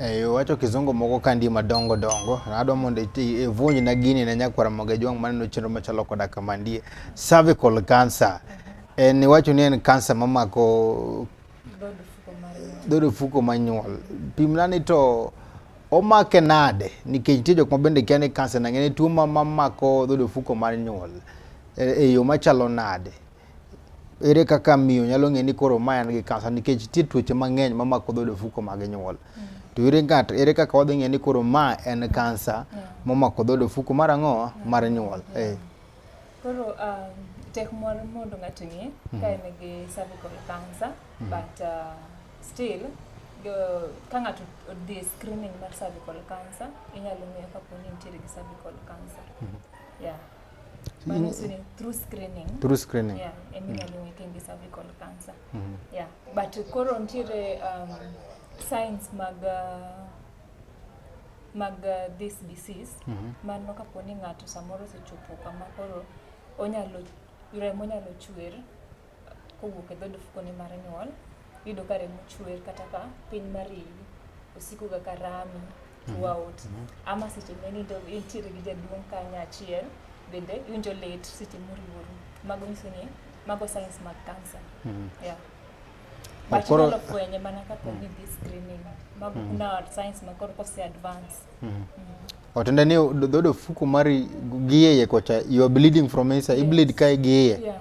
Eh, iwacho kizungu moko kandi madongo dongo adwa mondo ivunj na gini ne nyakwara moga jwang' maneno chenro machalo koda kama ndie cervical cancer en iwacho ni en cancer mamako dhood ofuko manyuol pimna ni to omake nade nikech nitie jok ma bende kia ni cancer nang'e ni tuo mamako dhood ofuko mar nyuol e, e yo machalo nade ere kaka miyo nyalo ng'e ni koro ma en gi kansa nikech nitie tuoche mang'eny ma mako dhood ofuko mag nyuol mm. to ere ngat ere kaka wadhi ng'e ni koro ma en kansa momako dhood ofuko mar ang'o mar nyuol eh. koro um, tek mor mondo ng'ato ng'e ka mm. en gi cervical cancer mm. but uh, still ka ng'ato odhi e screening mar cervical cancer inyalo ng'eyo kapo ni nitiere gi cervical cancer mm-hmm. yeah Manusuni through screening. Through screening. Yeah, and mm. -hmm. we can be cervical cancer. Mm -hmm. Yeah, but koro ntiere um, signs mag uh, mag uh, this disease mm -hmm. mano kapo ni ng'ato samoro osechopo kama koro onyalo remo nyalo chwer kowuok e dhood ofukone mar nyuol iyudo ka remo chwer kata ka piny mar iyi osikoga ka rami throughout mm -hmm. ama seche menindo intiere gi jaduong' kanyo achiel bende iwinjo lit seche moriworu mago nyiso ni mago science mag cancer mm -hmm. yeah. But koro inyalo fwenye mana kaka mm. gidhi screening mag mm. na science ma koro kose advance mm. mm. otende ni dhodo fuku mari gieye kocha you are bleeding from inside yeah. i bleed kae gieye yeah.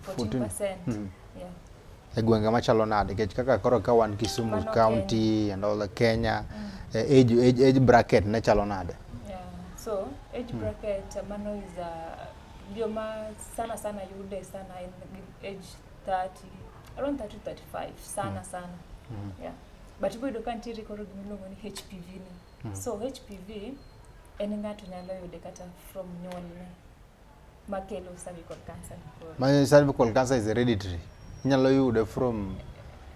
14%. Mm. Yeah. E gwenge machalo nade nikech kaka koro ka wan Kisumu Mano County and all the Kenya mm. Eh, age, age, age bracket ne chalo nade? Yeah. So age mm. bracket mm. mano is a uh, joma sana sana yude sana in age 30 around 30 35 sana mm. sana. Mm. Yeah. But ibo yudo ka nitiere koro gimiluongo ni HPV ni. Mm. So HPV en ng'ato nyalo yude kata from nyuolne. makelo cervical cancer ma cervical cancer is hereditary inyalo yude from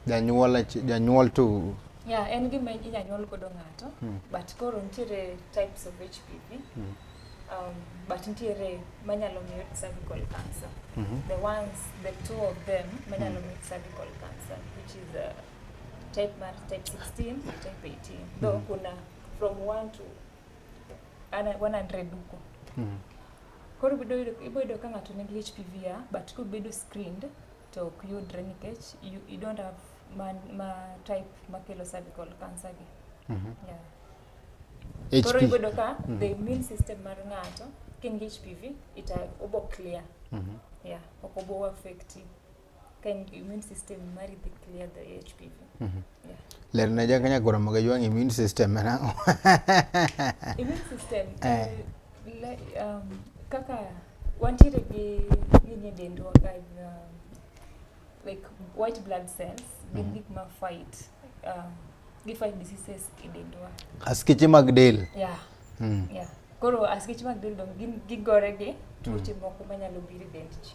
janyuol janyuol to yeah en gima inyalo nyuol godo ng'ato hmm. but koro nitiere types of HPV hmm. um, but nitiere manyalo miyo cervical cancer mm -hmm. the ones the two of them manyalo hmm. miyo cervical cancer which is uh, type mar type 16 type 18 though mm -hmm. kuna from 1 to 100 huko mm. koro iboyudo ka ng'ato nigi HPV ya but kobedo screened to ok yudre nikech you, you don't have ma, ma type makelo cervical cancer gi mm -hmm. yeah. HP. koro iboyudo ka mm -hmm. the immune system mar ng'ato kin gi HPV ita obo clear mm -hmm. yeah ok obo affect you Can immune system mari dhi clear the HPV. Mm -hmm. Yeah. Ler na ja kanya gora maga yuang immune system na. immune system. Eh. Le, um, kaka wantiere gi gini dendwa ka um, like white blood cells gin mm -hmm. gik ma fight um, gi fight diseases e dendwa. Askeche mag del. Yeah. Mm. Yeah. Koro askeche mag del dong gin gigore gi tuoche mm. moko manyalo biro e dend ji.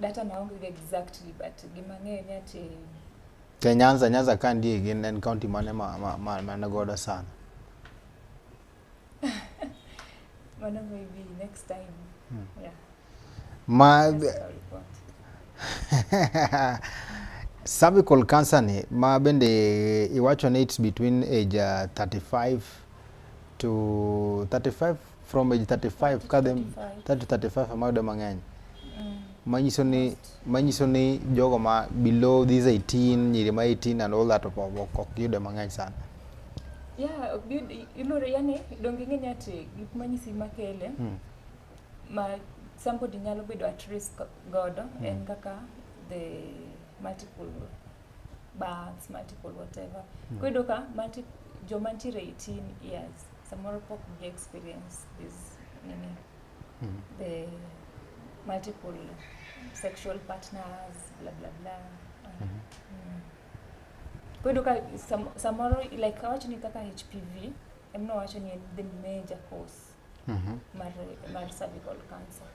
Data na onge exactly but gima ng'eyo ni ati Te Nyanza Nyanza ka ndiye gin en county mane ma ma ma mane godo sana. Mano maybe next time. Hmm. Yeah. Ma cervical cancer ni ma bende iwacho ni it's between age uh, 35 to 35 from age 35 ka dhi 35 ama yudo mang'eny mm. manyiso ni manyiso ni jogo ma below these 18 nyiri ma 18 and all that ok yude mang'eny sana yeah ilore yani donge ng'eny ati gik manyisi makele mm. ma somebody nyalo bedo at risk godo mm. en kaka the multiple births multiple whatever mm. kwedo ka multiple joma ntiere 18 years Samoro pok gi experience this nini mm. the multiple sexual partners bla bla bla mm. Mm. Kwedo ka sam, samoro like awacho ni kaka HPV emno wacho ni the major cause mm -hmm. mar, mar cervical cancer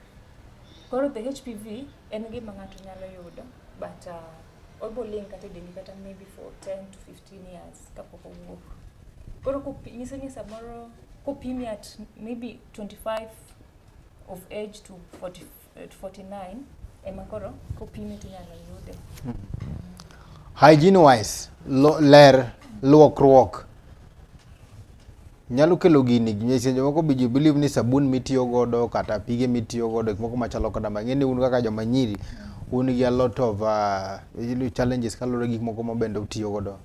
koro the HPV en gima ng'ato nyalo yudo but uh, oboling kata e dendi kata maybe for 10 to 15 years kapok owuok koro kopi- nyiso ni samoro kopimi at maybe 25 of age to 40, eh, to 49 ema koro kopimi tinyalo yude hygiene wise lo, ler luokruok nyalo kelo gini nyise jomoko be believe ni sabun mitiyo godo kata pige mitiyo godo gik moko machalo kada ma ng'eni un kaka joma nyiri un gi a lot of uh, challenges kaluwore gik moko ma bende utiyo godo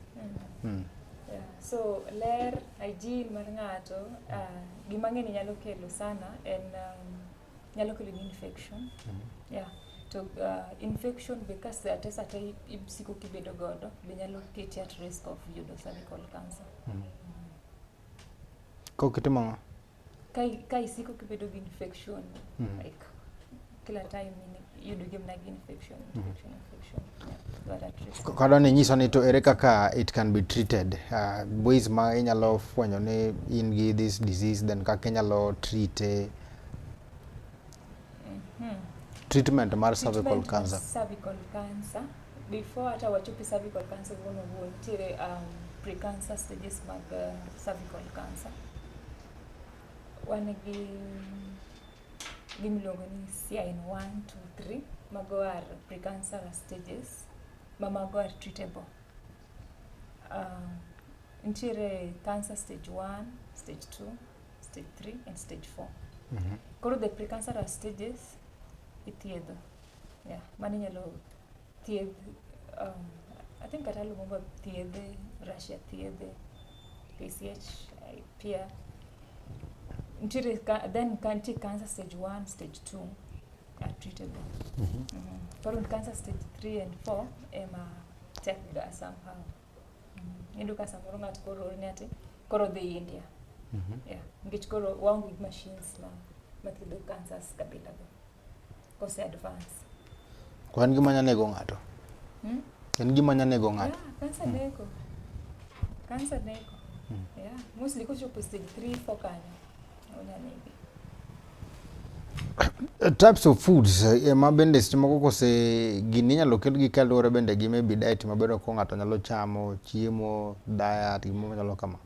mm. mm. yeah. so ler hygiene mar ng'ato uh, gima ng'eni nyalo kelo sana en um, nyalo kelo ni infection mm -hmm. yeah to uh, infection be ka sate sate isiko kibedo godo be nyalo keti at risk of yudo cervical cancer mm -hmm. Kok itimo ng'o? Ka isiko kibedo gi infection, mm. like kila time iyudo gi mna gi infection, mm-hmm. infection, infection. Kado ni nyiso ni to ere kaka it can be treated uh, ways ma inyalo fwenyo ni in gi this disease then kaka inyalo treat e treatment mar cervical cancer cervical cancer before hata wachopi cervical cancer wono wuo nitiere um, precancer stages mag uh, cervical cancer wan gi gimiluongo ni CIN 1 2 3 mago are precancer stages ma mago are treatable um, nitiere cancer stage 1 stage 2 stage 3 and stage 4 mm -hmm. koro the precancerous stages ithiedho yeah mano inyalo thiedh um, i think kata lumumba thiedhe russia thiedhe pch pia nitiere then nitie cancer stage 1 stage 2 are treatable mm -hmm. mm -hmm. koro cancer stage 3 and 4 ema tek ga somehow Iyudo ka samoro ng'ato koro oorni ati koro dhi India. Mhm. Yeah. Nikech koro waonge gi machines ma mathiedho cancers kabila go. Kose advance. Kwa en gima nyalo nego ng'ato. Hmm? En gima nyalo nego ng'ato. Yeah, kansa mm. neko. Kansa neko. Mm. Yeah. Mostly kochopo stage 3 4 kanyo. Uh, types of foods uh, eh, ma bende seche moko kose gini inyalo kelgi kaluwore bende gi maybe diet mabedo ko ng'ato nyalo chamo chiemo diet gimo machalo kama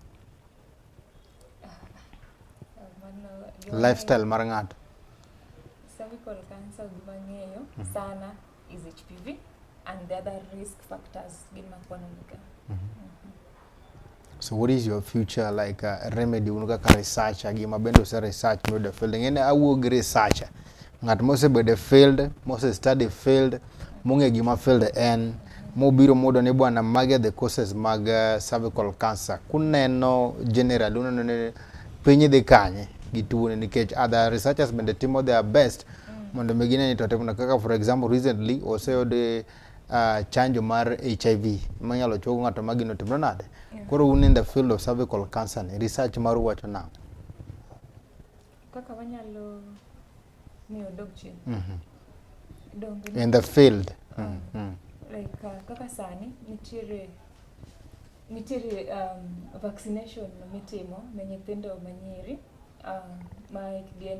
lifestyle mar ng'ato. Cervical cancer gima ng'eyo mhm. sana is HPV and the other risk factors gin makwano niga. Mm -hmm. Mm -hmm. So what is your future like a uh, remedy un kaka researcher gi mabende ose research miyudo field ng'ene awuo gi researcher ng'at mosebedo e field mose study field mong'e gima field en mobiro mudo ni bwana mage the causes mag uh, cervical cancer kuneno general uneno ni piny dhi kanye gi tuone nikech other researchers bende timo their best mondo mi gine ni to timo kaka for example recently oseyude uh, chanjo mar HIV manyalo chogo ng'ato ma gino timno nade yeah. koro un in the field of cervical cancer ni research mar wacho na kaka wanyalo miyo dog chien mm -hmm. in the field uh, mm -hmm. like uh, kaka sani nitiere nitiere um, vaccination mitimo ne nyithindo manyiri um, ma hikgi en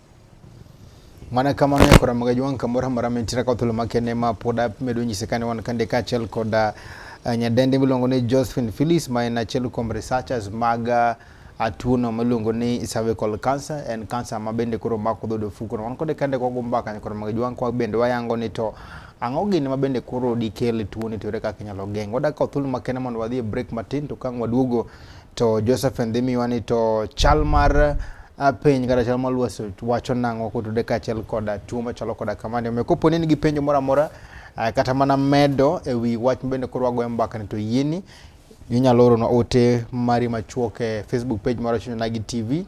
Mana kamano e kora magaji wang' kamoro amora mentira ka thuolo makende ma pod amedo nyise kane wan kande kaachiel kod uh, nyadendi miluongo ni Josephine Phyllis ma en achiel kuom researchers mag uh, atuono miluongo ni cervical cancer en cancer ma bende koro mako dhood ofuko wan kode kande kwa gumba kanyo koro mag jwang kwa bende wayango ni to ang'o gini ma bende koro dikel tuoni to ere kaka inyalo geng' wadak ka thuolo makende mondo wadhi e break matin to kang' waduogo To Joseph Ndhimiwa ni to chal mar uh, piny kata chal mar lwasi wacho nang'o kotude kaachiel koda tuo machalo koda kamani. Omiyo kopo ni nigi penjo moro amora uh, kata mana medo e wi wach mabende koro wagoyo mbaka ni to yieni inyalo oronwa ote mari machuok e Facebook page mar Chuny Onagi TV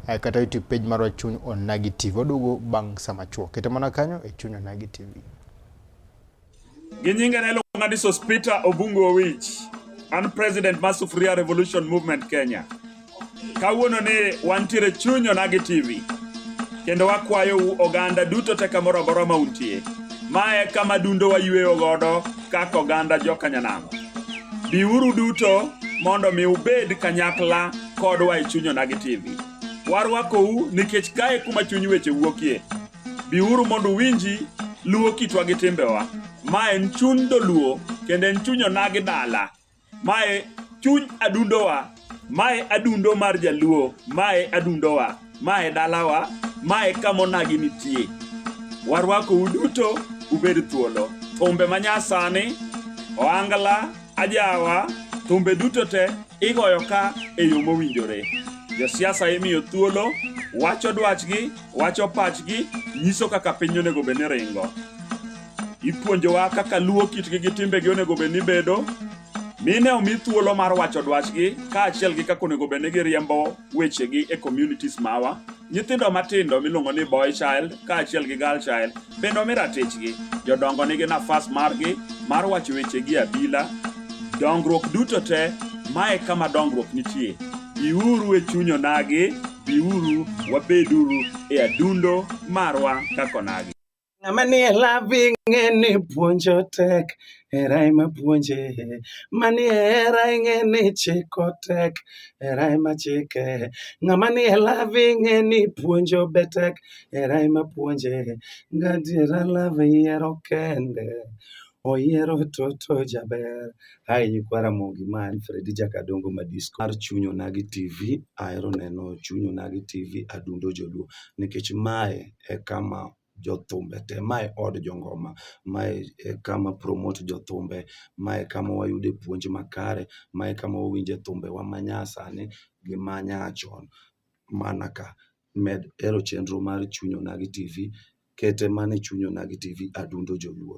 uh, kata YouTube page mar Chuny Onagi TV. Waduogo bang' sama chuok. Kete mana kanyo e Chuny Onagi TV. Gi nyinge ne iluonga ni Sospita Obungu Owich. An president mar Sufuria Revolution Movement Kenya. Kawuono ni wantiere chuny Onagi TV kendo wakwayou oganda duto te kamoro amora ma untie. Ma e kama dundo wayueyo godo kaka oganda jokanyanam. Biuru duto mondo mi ubed kanyakla kodwa e chuny Onagi TV. Warwakou nikech kae kuma chuny weche wuokie. Biuru mondo uwinji luwo kitwa gi timbewa. Ma en chuny doluo kendo en chuny onagi dala. Mae chuny adundowa. Mae adundo mar jaluo. Mae adundowa. Mae dalawa. Mae kama onagi nitie. Warwako uduto ubed thuolo. Thumbe manyasani, oangla, ajawa, thumbe duto te igoyo ka e yo mowinjore. Josiasa imiyo thuolo wacho dwachgi wacho pachgi, nyiso kaka piny onego bed ni ringo. Ipuonjowa kaka luwo kitgi gi timbegi onego bed ni bedo, mine omi thuolo mar wacho dwachgi kaachiel gi kaka onego bed ni giriembo wechegi e communities mawa. Nyithindo matindo miluongo ni boy child kaachiel gi girl child Bende omi ratichgi. Jodongo nigi nafas margi mar wacho weche gi abila. Dongruok duto te, mae kama dongruok nitie. Biuru e chuny onagi, biuru wabeduru e adundo marwa kaka onagi. Ng'ama nie lavi ng'e ni puonjo tek, Hera ema puonje, mani hera ing'e ni chiko tek, hera ema chike. Ng'ama ni e love ing'e ni puonjo be tek, hera ema puonje. Gadiera love yiero kende, oyiero toto jaber. Hai nyikwa Ramogi ma en Fredi Jakadongo Madisco mar Chuny Onagi TV. Ahero neno Chuny Onagi TV, Adundo Joluo nikech mae e kama jothumbe te. Ma e od jongoma, ma e kama promote jothumbe, ma e kama wayude puonj makare, ma e kama wawinje thumbewa ma nyasani gi ma nyachon. Mana ka, med hero chenro mar Chuny Onagi TV, kete mana e Chuny Onagi TV, Adundo Joluo.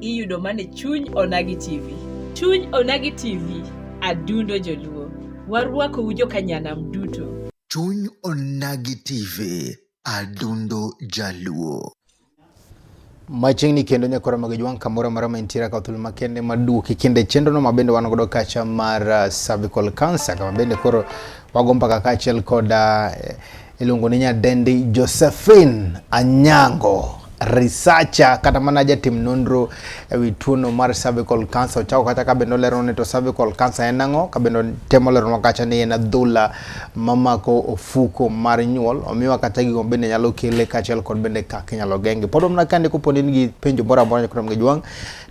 iyudo mane chuny onagi tv chuny onagi tv adundo joluo warwakou jokanyanam duto chuny onagi tv adundo jaluo machiegni kendo nyakora mag jwang' kamoro amora ma intiere ka thuolo makende maduoki kinde chenrono ma bende wan godo kacha mar uh, cervical cancer kama bende koro wago mbaka kaachiel kod uh, Iluongo ni nyadendi Josephine Anyango researcher kata mana jatim nonro ewi tuono mar cervical cancer ochako kata ka bende olero ni to cervical cancer en ang'o ka bende temo lero kacha ni en adhola mamako ofuko mar nyuol omiwa kata gigo bende nyalo kele kaachiel kod bende kaka inyalo genge pod omna kande koponi nigi penjo moro amora nyaka gi jwang'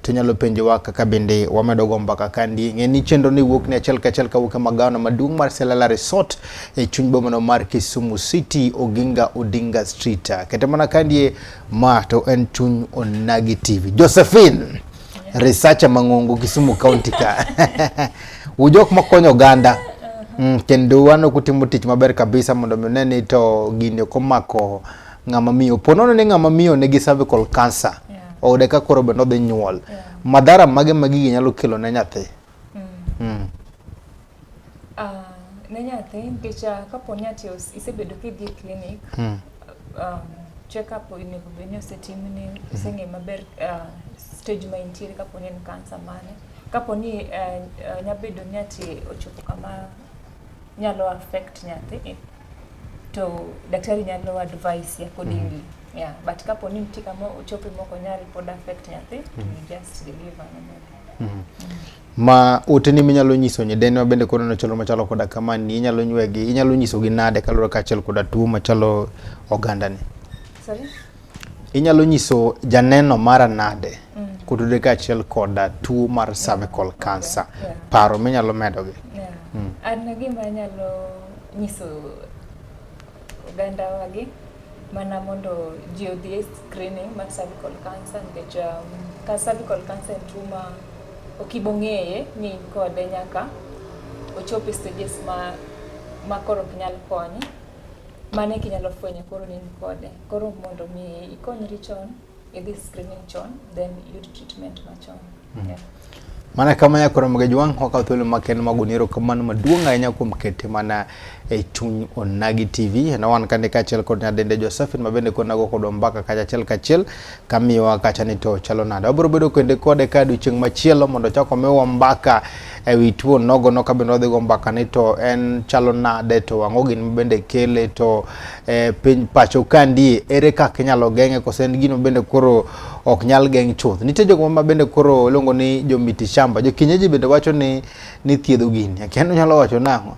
to nyalo penjowa kaka bende wamedo go mbaka kandi. Ng'e ni chenro ni wuok ni achiel kachiel kawuok e magawana maduong' mar Selala Resort e chuny bomano mar Kisumu City, Oginga Odinga Street. Kete mana kandi ma to en chuny Onagi TV. Josephine, researcher mang'ongo Kisumu County ka. Ujok makonyo oganda. Mm, kendo wano kutimo tich maber kabisa mondo mi ne ni to gini komako ng'ama miyo po nono ni ng'ama miyo nigi cervical cancer yeah. oyude ka koro bende odhi nyuol yeah. madhara mage ma gigi nyalo kelo ne nyathi mm. Mm. Uh, ne nyathi nikech ah, kapo ni ati isebedo kidhi e clinic mm. um, check up onego bed ni osetimni hmm. oseng'e maber uh, stage ma intiere kapo ni en cancer mane kapo ni uh, eh, uh, eh, nyabedo ni ati ochopo kama nyalo affect nyathi to daktari nyalo advice ya kodingi mm -hmm. yeah but kapo ni nitie kama ochope moko nyari pod affect nyathi mm -hmm. you just deliver no mm -hmm. ma uteni minyalo nyiso nyidene ma bende koro nochalo machalo koda kama ni inyalo nywegi inyalo nyisogi nade kaluwore kaachiel koda tuo machalo ogandani Sorry? Inyalo nyiso janeno mara nade mm. kutudore kaachiel koda tuo mar cervical cancer? Paro minyalo medogi. Mm. An gima anyalo nyiso oganda wagi mana mondo ji odhi e screening mar cervical cancer nikech um, ka cervical cancer en tuo ma ok ibo ng'eye ni in kode nyaka ochopo e stages ma ma koro ok nyal konyi Mano e kinyalo fwenyo koro ni in kode. Koro mondo mi ikonyri chon, idhi screening chon, then iyud treatment machon. Mm. Yeah. Mana kama ya koro mga juang wakaw thuolo maken mag uniro kamano maduong' ahinya kuom kete mana e chuny Onagi TV. Na wan kande kaachiel kod nyadende Josephine mabende konago kodwa mbaka kachachiel kachiel kamiwa kacha ni to chalo nade. Wabiro bedo kende kode ka odiechieng' machielo mondo ochak omiwa mbaka e wi tuo nogono ka bende wadhigo mbaka ni to en chalo nade to ang'o gin mabende kele to e, piny pacho kandie ere kaka inyalo geng'e kose en gino bende koro ok nyal geng' chuth. Nitie jogo ma bende koro iluongo ni jomiti shamba. Jokienyeji bende wacho ni ni thiedho gini. Akiano nyalo wacho nang'o.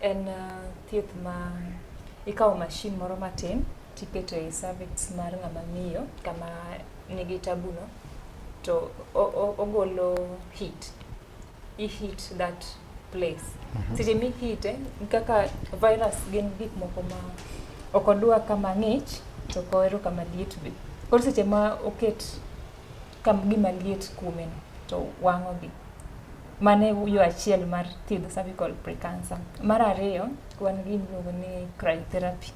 En uh, thieth ma ikawo mashin moro matin tiketo e cervix mar ng'ama miyo kama nigi tabuno to ogolo heat i heat that place mm -hmm. seche mihite kaka virus gin gik moko ma ok odwa kama ng'ich to kohero kama liet be koro seche ma oket ka gima liet kuome no to wang'ogi. Mano e yo achiel mar thiedho cervical precancer. Mar ariyo, wan gi gima iluongo ni cryotherapy.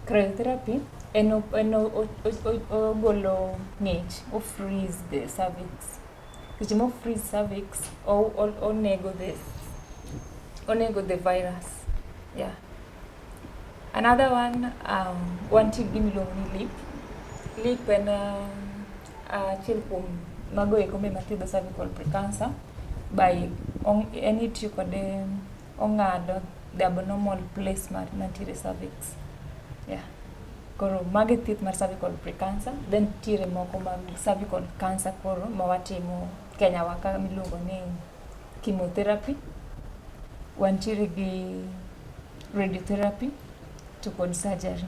Cryotherapy en en ogolo ng'ich, o freeze the cervix. Seche mo freeze cervix, onego the onego the virus, yeah. Another one, um, one tip gimiluongo ni lip. Lip en uh, uh, achiel kuom mago eko me mathiedho cervical precancer by on, en itiyo kode ong'ado the abnormal place mar mantiere cervix. Yeah. Koro mage thieth mar cervical precancer, then tiere moko mag cervical cancer koro ma watimo Kenya wa ka miluongo ni chemotherapy, wantiere gi radiotherapy to kod surgery.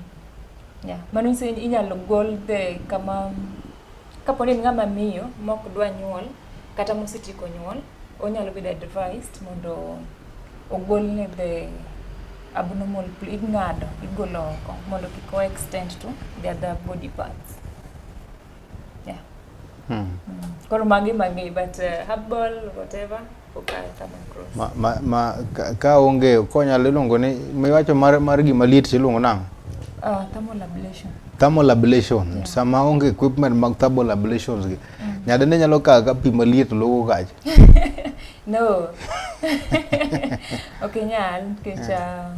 Yeah. Mano nyiso ni inyalo gol the kama kapo ni en ng'ama miyo mok dwa nyuol kata mosetieko nyuol, onyalo bedo advised mondo ogolne the abnormal pl- ing'ado igolo oko mondo kik o extend to the other body parts. yeah. hmm. koro magi magi but uh, herbal whatever ma, ma, ma, ka, ka onge konyalo iluongo ni miwacho mar, mar gima liet tiluongo nang'o uh, thermal ablation thermal ablation yeah. sama onge equipment mag thermal ablations gi mm. nyadende nyalo kawo ka pi maliet logo kacha no ok nyal nikech um,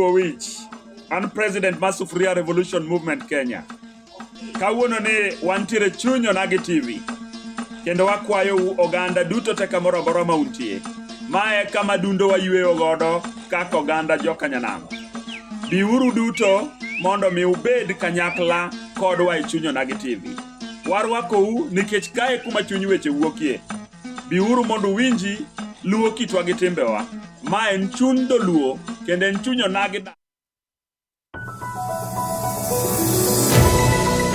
Owich, an president mar Sufuria Revolution Movement Kenya. Kawuono ni wantiere chuny Onagi TV kendo wakwayo u oganda duto te kamoro amora ma untie. Mae kama dundo wayweyo godo kaka oganda jokanyanam. Biuru duto mondo mi ubed kanyakla kodwa e chuny Onagi TV. Warwakou nikech kae kuma chuny weche wuokie. Biuru mondo uwinji luwo kitwa gi timbewa. Ma en chuny doluo kendo en chuny onagi